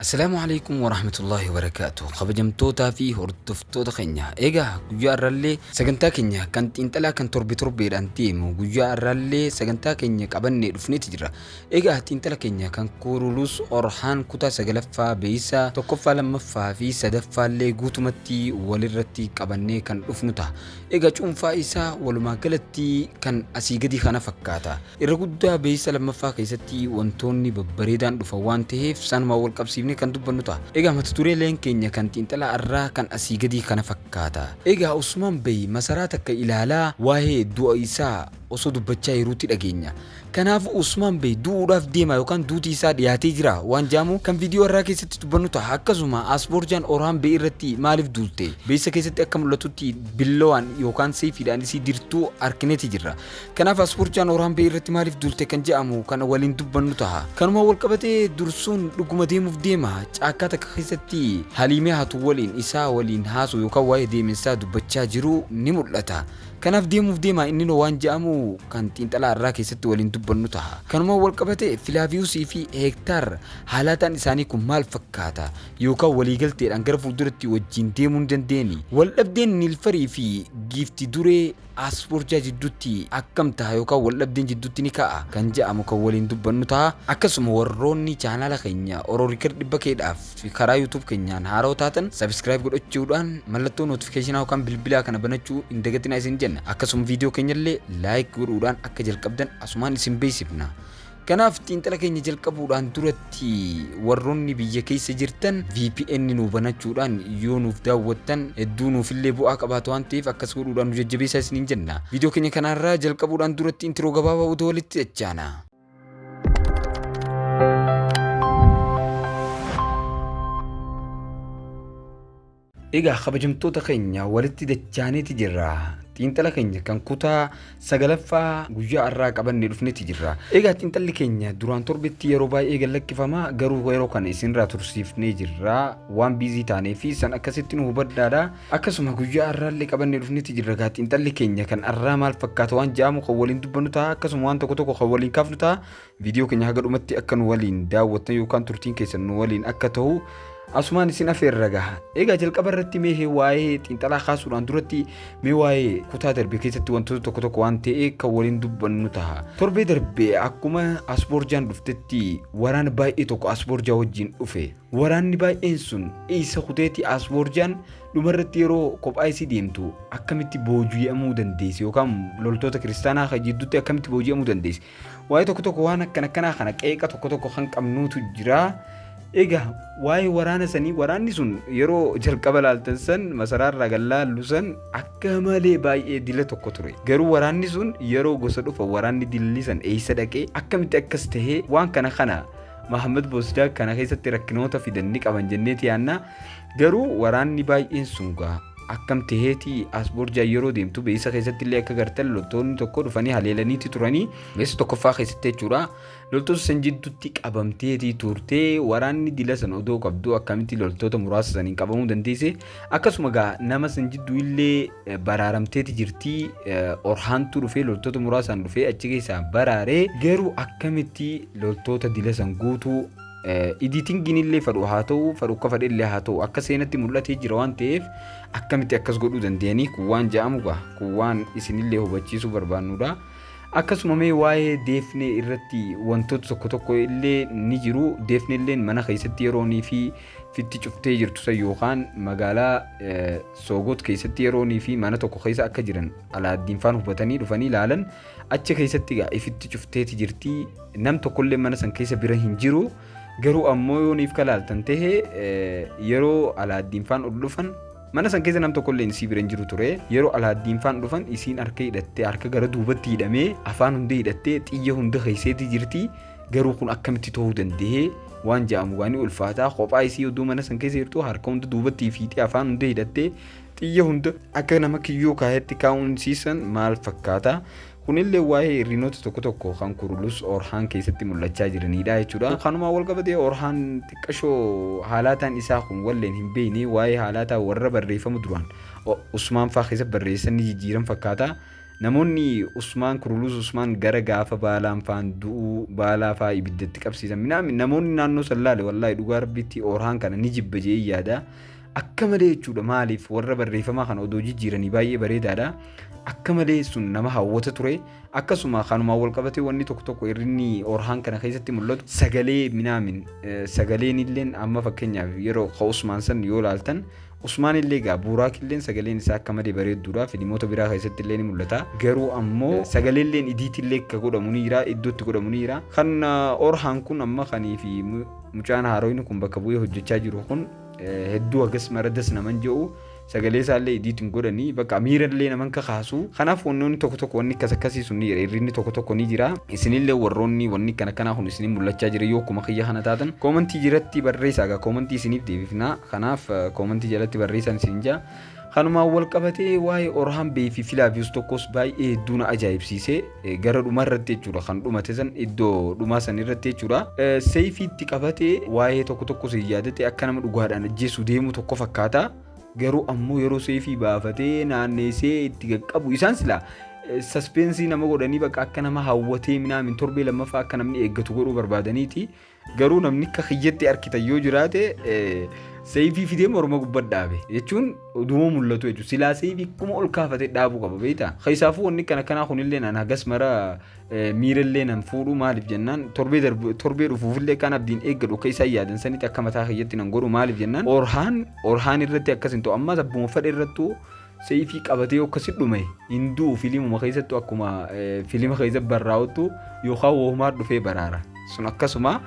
Assalaamu Aleykum Warahmatullaahi Wabarakaatuh Kabajamtootaa fi hordoftoota keenya egaa guyyaa irraallee sagantaa keenya kan xiinxalaa kan torbe torbeedhaan deemu guyyaa irraallee sagantaa keenya qabannee dhufneeti jira egaa xiinxala keenya kan kuurulus orhaan kutaa sagalaffaa beeysaa tokkoffaa lammaffaa fi sadaffaallee guutumatti walirratti qabannee kan dhufnu ta'a egaa cuunfaa isaa walumaa galatti kan asii gadii kana fakkaata Irra guddaa beeysa lammaffaa keessatti wantoonni babbareedaan dhufan waan taheef sanumaan wal qabsiifnee kan dubbannu taha. Egaa mata dureeleen keenya kan xiinxala arraa kan asii gadii kana fakkaata. Egaa Usmaan Bey masaraa takka ilaalaa waahee du'a isaa osoo dubbachaa jiruutti dhageenya. Kanaafuu Usmaan Bey du'uudhaaf deemaa yookaan duuti isaa dhiyaatee jiraa waan jedhamu kan viidiyoo arraa keessatti dubbannu taha. Akkasuma Asborjaan Orhaan Bey irratti maaliif duulte? Beeysa keessatti akka mul'atutti billawaan yookaan seeyfiidhaan isii dirtuu arkineeti jirra. Kanaaf Asfuurchaan Oraambee irratti maaliif duulte kan jedhamu kana waliin dubbannu taha. Kanuma walqabatee dursuun dhuguma deemuuf deema caakkaa takka keessatti Haliimee hatu waliin isaa waliin haasoo yookaan waa'ee deeminsaa dubbachaa jiruu ni mul'ata. Kanaaf deemuuf deema inninoo waan jedhamu kan xiinxalaa irraa keessatti waliin dubbannu taha. Kanuma walqabatee Filaaviyuusii fi Heektaar haalaataan isaanii kun maal fakkaata yookaan waliigalteedhaan gara fuulduratti wajjiin deemuu ni dandeeni. Waldhabdeen Niilfarii fi Giifti Duree As furchaa jiddutti akkam taha yookaan waldhabdeen jiddutti ni ka'a kan ja'amu kan waliin dubbannu taha. Akkasuma warroonni chaanaala keenya Oro Record 100K dhaaf karaa YouTube keenyaan haarawa taatan subscribe godhachuudhaan mallattoo notification yookaan bilbilaa kana banachuu hin dagatinaa isin jenna. Akkasuma video keenyallee like godhuudhaan akka jalqabdan asumaan isin beeksifna. Kanaaf xiinxala keenya jalqabuudhaan duratti warroonni biyya keessa jirtan VPN nu banachuudhaan yoo nuuf daawwattan hedduu nuufillee bu'aa qabaata waan ta'eef akkas godhuudhaan nu jajjabeessaa isiniin jenna. Viidiyoo keenya kanaarraa jalqabuudhaan duratti intiroo gabaabaa odoo walitti dachaana. Egaa kabajamtoota keenya walitti dachaaneeti jirra. Xiinxala keenya kan kutaa sagalaffaa guyyaa har'aa qabannee dhufneeti jirra. Egaa xiinxalli keenya duraan torbetti yeroo baay'ee gad lakkifama garuu yeroo kana isinirraa tursiifnee jirra. Waan biizii taanee fi san akkasitti nu hubadhaadha. Akkasuma guyyaa har'aallee qabannee dhufneeti jirra. Egaa xiinxalli keenya kan har'aa maal fakkaata waan ja'amu kan waliin dubbannu ta'a akkasuma waan tokko tokko kan waliin kaafnu ta'a. Viidiyoo keenya haga dhumatti akka nu waliin daawwattan yookaan turtiin keessan nu waliin akka ta'u asumaan isin afeerra gaha. Egaa jalqaba irratti mee waa'ee xiinxalaa kaasuudhaan duratti mee waa'ee kutaa darbe keessatti wantoota tokko tokko waan ta'e kan waliin dubbannu taha. Torbee darbe akkuma Asboorjaan dhuftetti waraana baay'ee tokko Asboorjaa wajjin dhufe. Waraanni baay'een sun isa kuteetti Asboorjaan dhumarratti yeroo kophaa isii deemtu akkamitti booji'amuu dandeessi yookaan loltoota kiristaanaa kan jidduutti akkamitti booji'amuu dandeessi. Waa'ee tokko tokko waan akkan akkanaa kana qeeqa tokko tokko kan qabnuutu jira. Egaa waa'ee waraana sanii waraanni sun yeroo jalqaba laaltan san masaraa irraa gad laallu san akka malee baay'ee dila tokko ture. Garuu waraanni sun yeroo gosa dhufa waraanni dilli san eessa dhaqee akkamitti akkas tahee waan kana kana Mahammad Boosdaa kana keessatti rakkinoota fidan ni qaban jenneeti yaannaa. Garuu waraanni baay'een sun gaa akkam teheeti as borjaa yeroo deemtu beeysa keessatti illee akka gartan loltoonni tokko dhufanii haleelaniiti turanii beeysa tokkoffaa keessatti jechuudha loltoota san jidduutti qabamteeti turte waraanni dila san odoo qabdu akkamitti loltoota muraasa saniin qabamuu dandeesse akkasuma gaa nama san jidduu illee eh, baraaramteeti jirti eh, orhaantuu dhufee loltoota muraasaan dhufee achi keessaa baraaree garuu akkamitti loltoota dila san guutuu Editingiin illee fadhu haa ta'u fadhu akka fadhe illee haa ta'u akka seenatti mul'atee jira waan ta'eef akkamitti akkas godhuu danda'anii kun waan ja'amu gaa kun waan isinillee hubachiisuu barbaannudha. Akkasuma mee waa'ee deefnee irratti wantoota tokko tokko illee ni jiru deefnee illee mana keessatti yeroonii fi fitti cuftee jirtu san yookaan magaalaa soogot keessatti yeroonii fi mana tokko keessa akka jiran alaaddiinfaan hubatanii dhufanii ilaalan Achi keessatti egaa ifitti cufteeti jirti. Nam tokkollee mana san keessa bira hin jiru. Garuu ammoo yoo niif kalaaltan ta'e yeroo alaaddiin faan ol dhufan mana san keessa nam tokkollee isii bira hin jiru ture. Yeroo alaaddiin faan dhufan isiin harka hidhattee harka gara duubatti hidhamee afaan hunda hidhattee xiyya hunda keesseeti jirti. Garuu kun akkamitti ta'uu danda'ee waan ja'amu gaanii ulfaataa kophaa isii oduu mana san keessa jirtu harka hunda duubatti fiixee afaan hunda hidhattee Xiyya hunda akka nama kiyyoo kaahetti kaa'uun siisan maal fakkaata? Kunillee waa'ee irriinoota tokko tokko kan kurulus orhaan keessatti mul'achaa jiranidha jechuudha. Kanumaan wal qabatee orhaan xiqqashoo haalaataan isaa kun walleen hin beekne waa'ee haalaataa warra barreeffama duraan Usmaan faa keessatti barreessan ni jijjiiran fakkaata. Namoonni Usmaan kurulus Usmaan gara gaafa baalaan faan du'uu baalaa faa ibiddatti qabsiisan minaamin namoonni naannoo san laale wallaahi dhugaa rabbiitti orhaan kana ni jibba jee yaada. akka malee jechuudha maaliif warra barreeffamaa kana odoo jijjiiranii baay'ee bareedaadha akka malee sun nama hawwata ture akkasuma kanumaan wal qabatee wanni tokko tokko irrinni orhaan kana keessatti mul'atu sagalee minaamin sagaleen illeen amma fakkeenyaaf yeroo ka usmaan san yoo laaltan usmaan illee gaa buuraak illeen sagaleen isaa akka malee bareedduudha filimoota biraa keessatti illee ni mul'ata garuu ammoo sagalee illeen idiitti illee akka godhamu ni jira iddootti godhamu ni jira kan orhaan kun amma kanii fi mucaan haaroyni kun bakka bu'ee hojjechaa jiru kun hedduu hagas mara das naman je'u sagalee isaallee idiit hin godhanii bakka miirallee naman kakaasu kanaaf wannoonni tokko tokko wanni akkas akkasii sun ni jira irrinni tokko tokko ni jira isinillee warroonni wanni kana kanaa kun isinii mul'achaa jira yoo akkuma kiyya kana taatan koomantii jiratti barreessaa egaa koomantii isiniif deebifnaa kanaaf koomantii jalatti barreessaan isin jaa Kanumaan wal qabatee waa'ee Orhaan Bey fi Filaaviyoos tokkos baay'ee hedduu na ajaa'ibsiise. Gara dhumaa irratti jechuudha kan dhumate san iddoo dhumaa san irratti jechuudha. Seefiitti qabate waa'ee tokko tokko sin yaadate akka nama dhugaadhaan ajjeessu deemu tokko fakkaata. Garuu ammoo yeroo seefii baafatee naanneessee itti qaqqabu isaan silaa saspeensii nama godhanii bakka akka nama hawwatee minaamin torbee lammaffaa akka namni eeggatu godhuu barbaadaniiti. Garuu namni akka kiyyatti arkitan yoo jiraate seeyfii fidee morma gubbatti dhaabe jechuun duuba mul'atu jechuudha. Silaa seeyfii akkuma ol kaafatee dhaabuu qaba beektaa? Keessaafuu wanni kana kanaa kunillee naan hagas mara miirallee nan fuudhu maaliif jennaan torbee darbe torbee dhufuufillee kan abdiin eeggadhu akka isaan yaadan sanitti akka mataa kiyyatti nan godhu maaliif jennaan orhaan orhaan irratti akkas hin ta'u ammas abbuma fadhe irrattuu Seeyfii qabatee yoo akkasi dhume hin du'u filimuma keessattu akkuma filima keessa barraa'uttu yookaan woomaar dhufee baraara. Sun akkasuma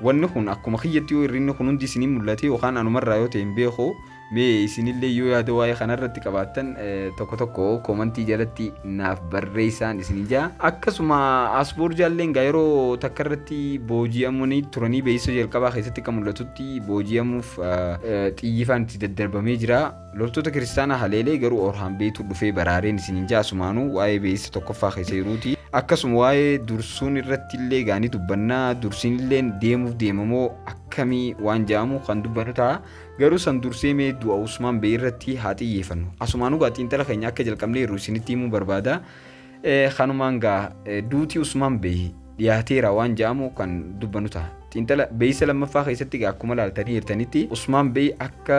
wanni kun akkuma kiyyatti yoo irrinni kun hundi isinii mul'ate yookaan anumarraa yoo ta'e hin beeku mee isinillee yoo yaada waa'ee kanarratti qabaattan tokko tokko koomantii jalatti naaf barreessaan isin jaa. Akkasuma asboorjaalleen gaa yeroo takka irratti booji'amanii turanii beeksisa jalqabaa keessatti akka mul'atutti booji'amuuf xiyyifaan itti daddarbamee jira. Loltoota kiristaanaa haleelee garuu Orhaan beeytu dhufee baraareen isiniin ja'a sumaanuu waa'ee beeysa tokkoffaa keessa jiruuti. Akkasuma waa'ee dursuun irratti illee gaanii dubbannaa dursiin illee deemuuf deemamoo akkamii waan ja'amu kan dubbannu ta'a. Garuu san dursee mee du'a Usmaan beey irratti haa xiyyeefannu. Asumaanuu gaa xiinxala keenya akka jalqabneerru isinitti himuu barbaada. Ee kanumaan gaa duuti Usmaan Bey dhiyaateera waan ja'amu kan dubbanu ta'a. Xiinxala beeysa lammaffaa keessatti gaa akkuma laaltanii jirtanitti Usmaan Bey akka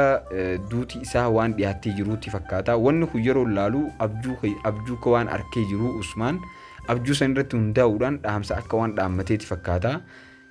duuti isaa waan dhiyaattee jiruutti fakkaata. Wanni kun yeroo laalu abjuu abjuu akka waan arkee jiru Usmaan abjuu san irratti hundaa'uudhaan dhaamsa akka waan dhaammateeti fakkaata.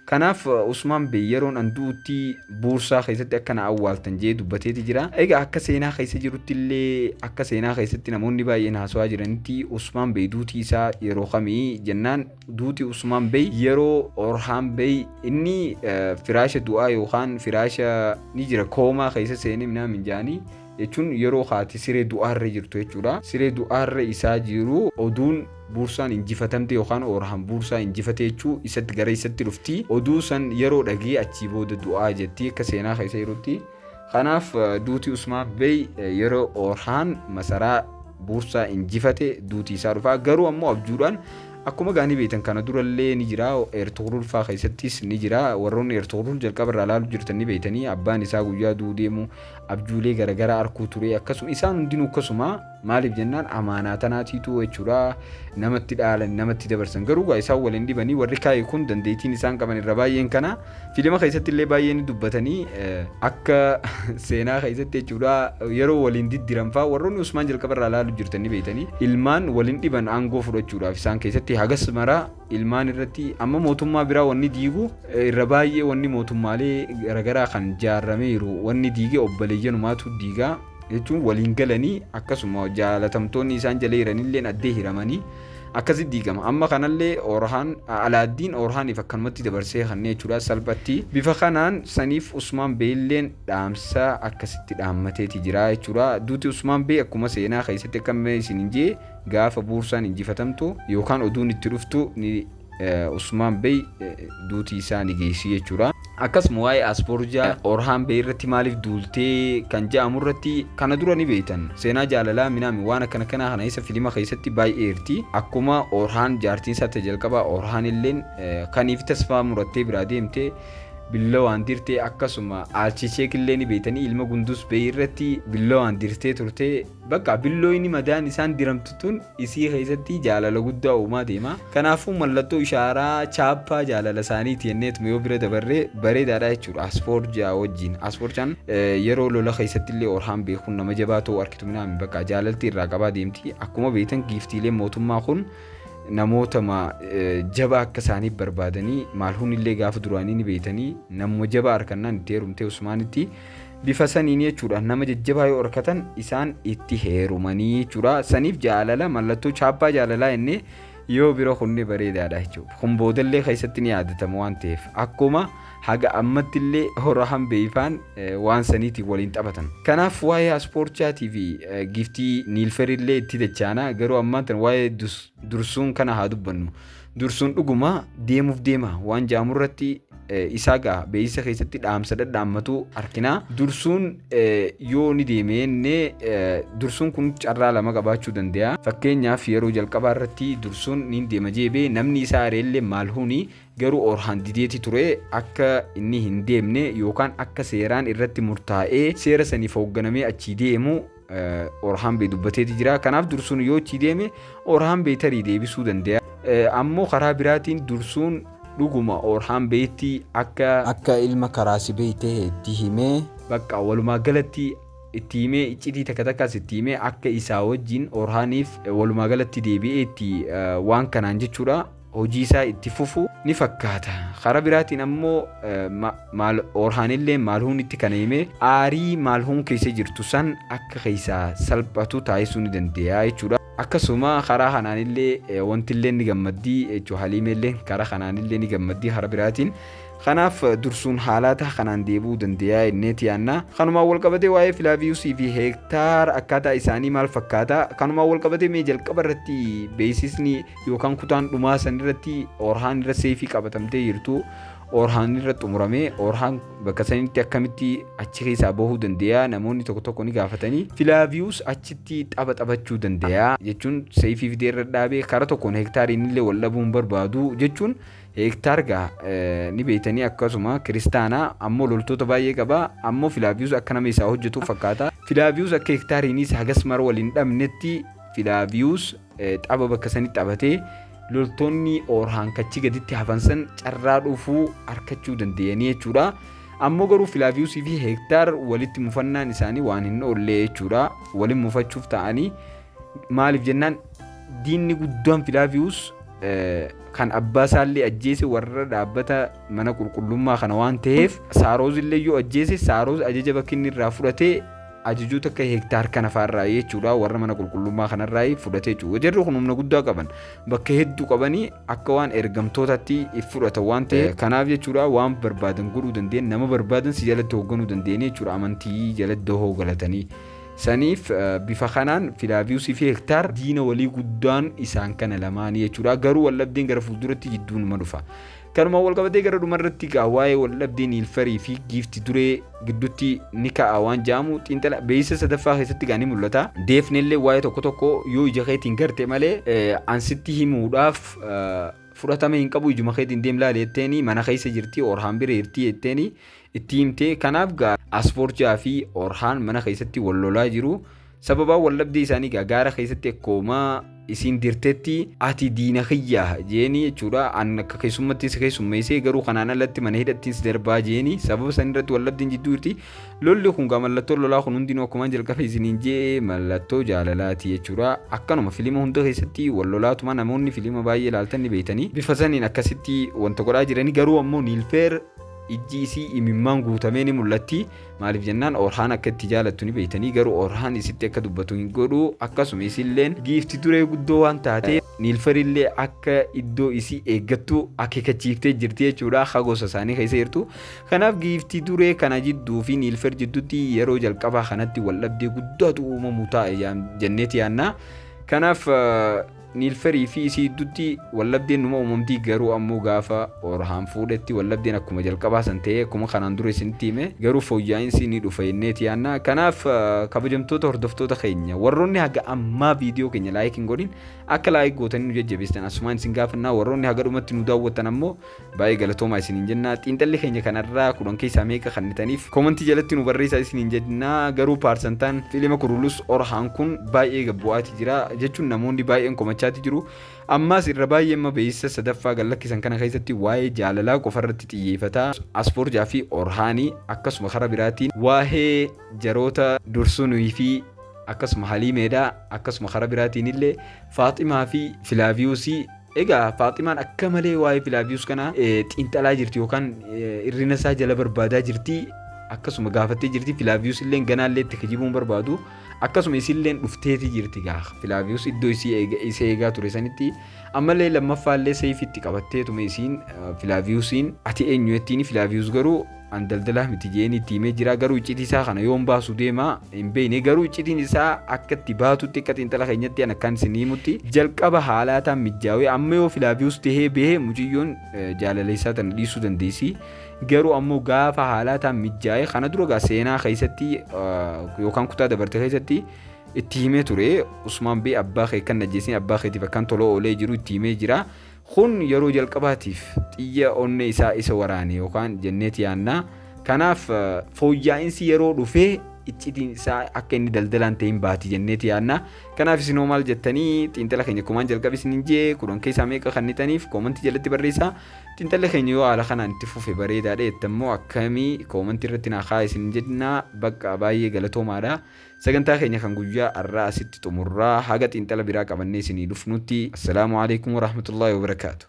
Kanaaf Usmaan Bey yeroon an du'utti Buursaa keessatti akka na awwaaltan jedhee dubbateeti jira. Egaa akka seenaa keessa jirutti illee akka seenaa keessatti namoonni baay'een haasawaa jiranitti Usmaan Bey duuti isaa yeroo kami jennaan duuti Usmaan Bey yeroo Orhaan Bey inni firaasha du'aa yookaan firaasha ni jira koomaa keessa seenee minaa minjaanii jechuun yeroo kaati siree du'aarra jirtu jechuudha. Siree du'aarra isaa jiru oduun Buursaan injifatamte yookaan Oorahaan Buursaa injifate jechuu isatti gara isatti dhufti. Oduu san yeroo dhagee achii booda du'aa jetti akka seenaa keessa jirutti. Kanaaf duuti Usmaan Bey yeroo Oorhaan masaraa Buursaa injifate duuti isaa dhufaa garuu ammoo abjuudhaan akkuma gaanii beektan kana durallee ni jira Ertugrul faa keessattis ni jira warroonni Ertugrul jalqaba irraa ilaalu jirtan ni beektanii abbaan isaa guyyaa du'uu deemu abjuulee garagaraa arkuu turee akkasuma isaan hundinuu akkasuma maaliif jennaan amaanaa tanaatiitu jechuudha namatti dhaalan namatti dabarsan garuu gaa isaan waliin dhibanii warri kaa'e kun dandeettiin isaan qaban irra baay'een kana fiilima keessatti illee baay'ee ni dubbatanii eh, akka seenaa keessatti jechuudha yeroo waliin diddiran fa'aa warroonni usmaan jalqaba irraa ilaalu jirtan ni beektanii ilmaan waliin dhiban aangoo fudhachuudhaaf isaan keessatti hagas maraa ilmaan irratti amma mootummaa biraa wanni diigu irra baay'ee wanni mootummaalee garagaraa kan jaarrameeru wanni diige obboleeyyanumaatu diigaa jechuun waliin galanii akkasuma jaalatamtoonni isaan jala jiranillee addee hiramanii akkasi diigama amma kanallee orhaan alaaddiin orhaaniif akkanumatti dabarsee kannee jechuudha salphatti bifa kanaan saniif usmaan beeyilleen dhaamsa akkasitti dhaammateeti jira jechuudha duuti usmaan beey akkuma seenaa keessatti akka isin hin jee Gaafa Buursaan injifatamtu yookaan oduun itti dhuftu ni Usmaan Bey duutii isaa ni geessi jechuudha. Akkasuma waa'ee Asboorjaa Orhaan Bey irratti maaliif duultee kan ja'amu irratti kana dura ni beeytan. Seenaa jaalalaa minaami waan akkana kanaa kana isa filima keessatti baay'ee irti. Akkuma Orhaan jaartiin isaa ta jalqabaa Orhaan illeen kaniif tasfaa murattee biraa deemte billawaan dirtee akkasuma Aalchicheek illee ni beeytanii ilma Gunduus Bey irratti billawaan dirtee turte. Bakka billooyni madaan isaan diramtu tun isii keessatti jaalala guddaa uumaa deema. Kanaafuu mallattoo ishaaraa chaappaa jaalala isaaniiti jenneetuma yoo bira dabarre bareedaadha jechuudha. Asfoorjaa wajjin. Asfoorjaan yeroo lola keessatti illee Orhaan beekuun nama jabaa ta'uu arkitu minaami bakka jaalalti irraa qabaa deemti. Akkuma beektan giiftiileen mootummaa kun namoota jabaa akka isaaniif barbaadanii maalhuun illee gaafa duraanii ni beeytanii namuma jabaa arkannaan itti heerumtee Usmaanitti Bifa saniin jechuudha nama jajjabaa yoo arkatan isaan itti heerumanii jechuudha. Saniif jaalala mallattoo chaappaa jaalalaa jennee yoo bira kunne bareedaadha jechuudha. Kun boodallee keessatti ni yaadatama waan ta'eef akkuma haga ammatti illee hora hambeeyfaan waan saniitiin waliin taphatan. Kanaaf waa'ee aspoorchaatii fi giftii niilferillee itti dachaana garuu ammaan tan waa'ee dursuun kana haa dubbannu. Dursuun dhuguma deemuuf deema waan ja'amu irratti isaa ga'a beeksisa keessatti dhaamsa dhadhaammatuu argina. Dursuun yoo ni deeme inni dursuun kun carraa lama qabaachuu danda'a. Fakkeenyaaf yeroo jalqabaa irratti dursuun ni deema jeebee namni isaa areellee maal huuni garuu orhaan dideeti ture akka inni hin deemne yookaan akka seeraan irratti murtaa'ee seera saniif hoogganamee achii deemu Orhaambee dubbateeti jira. Kanaaf dursuun yoo itti deeme Orhaambee tarii deebisuu danda'a. Ammoo karaa biraatiin dursuun dhuguma Orhaambeetti akka akka ilma karaasibee ta'e itti himee bakka walumaa galatti itti himee iccitii takka takkaas itti himee akka isaa wajjin Orhaaniif walumaa galatti deebi'ee itti waan kanaan jechuudha. hojii isaa itti fufu ni fakkaata. Karaa biraatiin ammoo maal Orhaanillee Maalhuunitti kana himee aarii Maalhuun keessa jirtu san akka keessaa salphatu taasisuu ni dandeeya jechuudha. Akkasuma karaa kanaanillee wantillee ni gammaddii jechuudha. Haliimeellee karaa kanaanillee ni gammaddii karaa biraatiin. Kanaaf dursuun haalaata kanaan deebi'uu dandeeya inneeti yaanna. Kanumaan walqabatee waa'ee Filaaviyuusii fi Heektaar akkaataa isaanii maal fakkaata? Kanumaan walqabatee mee jalqaba irratti beeksisni yookaan kutaan dhumaa san irratti orhaan irra seefii qabatamtee jirtu orhaan irra xumurame orhaan bakka sanitti akkamitti achi keessaa bahuu dandeeya namoonni tokko tokko ni gaafatanii filaaviyus achitti tapha taphachuu dandeeya jechuun seefii fidee irra dhaabee karaa tokkoon heektaariin illee wal dhabuu hin barbaadu jechuun heektaar gaa eh, ni beektanii akkasuma kiristaanaa ammoo loltoota baay'ee qaba ammoo filaaviyus akka nama isaa hojjetu fakkaata filaaviyus akka heektaariinis hagas mara wal hin dhabnetti Filaaviyuus tapha bakka sanitti taphatee loltoonni Oorhaan kachi gaditti hafan san carraa dhufuu harkachuu danda'anii jechuudha. Ammoo garuu Filaaviyuusii fi Heektaar walitti mufannaan isaanii waan hin oollee jechuudha. Waliin mufachuuf ta'anii maaliif jennaan diinni guddaan Filaaviyuus kan abbaa isaallee ajjeese warra dhaabbata mana qulqullummaa kana waan ta'eef Saarooz illee yoo ajjeese Saarooz ajaja bakki inni irraa fudhatee ajajuu takka hektaar kana faarraa jechuudha warra mana qulqullummaa kanarraa fudhate jechuudha jarri kun humna guddaa qaban bakka hedduu qabanii akka waan ergamtootatti if fudhatan waan ta'e kanaaf jechuudha waan barbaadan godhuu dandeen nama barbaadan si jalatti hoogganuu dandeenye jechuudha amantii jalatti dahoo galatanii saniif bifa kanaan filaaviyuusii fi hektaar diina walii guddaan isaan kana lamaanii jechuudha garuu waldhabdeen gara fuulduratti jidduunuma dhufa Kanuma walqabatee gara dhumarratti gaa waa'ee waldhabdee Niilfarii fi giifti duree gidduutti ni ka'a waan ja'amu xiinxala beeysa sadaffaa keessatti gaa ni mul'ata. Deefnellee waa'ee tokko tokko yoo ija keetiin garte malee an sitti himuudhaaf fudhatama hin qabu ijuma keetiin deem laali jetteeni mana keessa jirti Orhaan bira jirti jetteeni itti himte kanaaf gaa Asfoorjaa fi Orhaan mana keessatti wal lolaa jiru. sababaa wallabdee isaanii gaa gaara keessatti akkooma isiin dirtetti ati diina kiyyaa jeeni jechuudha an akka keessummatti si keessummeessee garuu kanaan alatti mana hidhattiin si darbaa jeeni sababa san irratti wallabdiin jidduu jirti lolli kun gaa mallattoo lolaa kun hundinuu akkumaan jalqaba isiniin jee mallattoo jaalalaati jechuudha akkanuma filima hunda keessatti wal lolaatuma namoonni filima baay'ee ilaaltan ni beeytanii bifa saniin akkasitti wanta godhaa jiranii garuu ammoo niilfeer ijji isii imimmaan guutamee ni mul'atti Maaliif jennaan Orhaan akka itti jaalattu ni beeytanii garuu Orhaan isitti akka dubbatu hin godhu akkasuma isilleen giifti duree guddoo waan taatee niilfarillee akka iddoo isii eeggattu akeekachiiftee jirti jechuudha ha gosa isaanii keessa jirtu kanaaf giifti duree kana jidduu fi niilfar jidduutti yeroo jalqabaa kanatti wal dhabdee guddaatu uumamu taa'e jenneeti yaannaa kanaaf Niilferii fi isii gidduutti wallabdeen numa uumamti garuu ammoo gaafa Orhaan fuudhetti wallabdeen akkuma jalqabaa san ta'ee akkuma kanaan dura isinitti hime garuu fooyyaa'insi ni dhufa jenneeti yaanna kanaaf kabajamtoota hordoftoota keenya warroonni haga ammaa viidiyoo keenya laayik hin godhin akka laayik gootanii nu jajjabeessitan asumaan isin gaafannaa warroonni haga dhumatti nu daawwattan ammoo Baay'ee galatoomaa isiniin jenna. Xiinxalli keenya kanarraa kudhan keessaa meeqa kannitaniif koomantii jalatti nu barreessaa isiniin jenna. Garuu paarsantaan fiilima kurulus orhaan kun baay'ee gad bu'aati jira jechuun namoonni baay'een komachaati jiru. Ammaas irra baay'ee amma beeksisa sadaffaa gad lakkisan kana keessatti waa'ee jaalalaa qofarratti xiyyeefata. Asfoorjaa fi Orhaanii akkasuma karaa biraatiin waa'ee jaroota Dursunii fi akkasuma Haliimeedha. Akkasuma karaa biraatiin illee Faaximaa fi Filaaviyuusii Egaa Faaximaan akka malee waa'ee Filaavius kana xiinxalaa jirti yookaan irrina isaa jala barbaadaa jirti. Akkasuma gaafattee jirti Filaavius illee ganaallee itti kijibuun barbaadu. Akkasuma isillee dhufteeti jirti gaa Filaavius iddoo isa eegaa ture sanitti ammallee lammaffaallee seefitti qabatteetuma isiin Filaaviusiin ati eenyu jettiin Filaavius garuu An daldalaa miti je'een itti himee jira garuu iccitii isaa kana yoon baasu deema hin beeyne garuu iccitiin isaa akka itti baatutti akka xiinxala keenyatti an akkaan isin himutti jalqaba haalaataan mijjaawee amma yoo filaaviyus tahee behe muciyyoon jaalala isaa tana dhiisuu dandeessi garuu ammoo gaafa haalaataan mijjaa'e kana dura gaa seenaa keessatti yookaan kutaa dabarte keessatti itti himee ture usmaan bee abbaa kee kan najjeessin abbaa keetiif akkaan tola oolee jiru itti himee jira Kun yeroo jalqabaatiif xiyya onnee isaa isa waraane yookaan jenneet yaanna. Kanaaf fooyyaa'insi yeroo dhufee iccitiin isaa akka inni daldalaan ta'e hin baati jenneet yaanna. Kanaaf isin hoo maal jettanii xiinxala keenya kumaan jalqabe isin hin jee kudhan keessaa meeqa kannitaniif koomantii jalatti barreessaa. Xiinxalli keenya yoo haala kanaan itti fufe bareedaadha jettan immoo akkamii koomantii irratti naa kaa'a isin jennaa bakka baay'ee galatoomaadha. Sagantaa keenya kan guyyaa arraa asitti xumurraa haga xiinxala biraa qabannee isinii dhufnutti assalaamu aleykum warahmatullaahi wabarakaatu.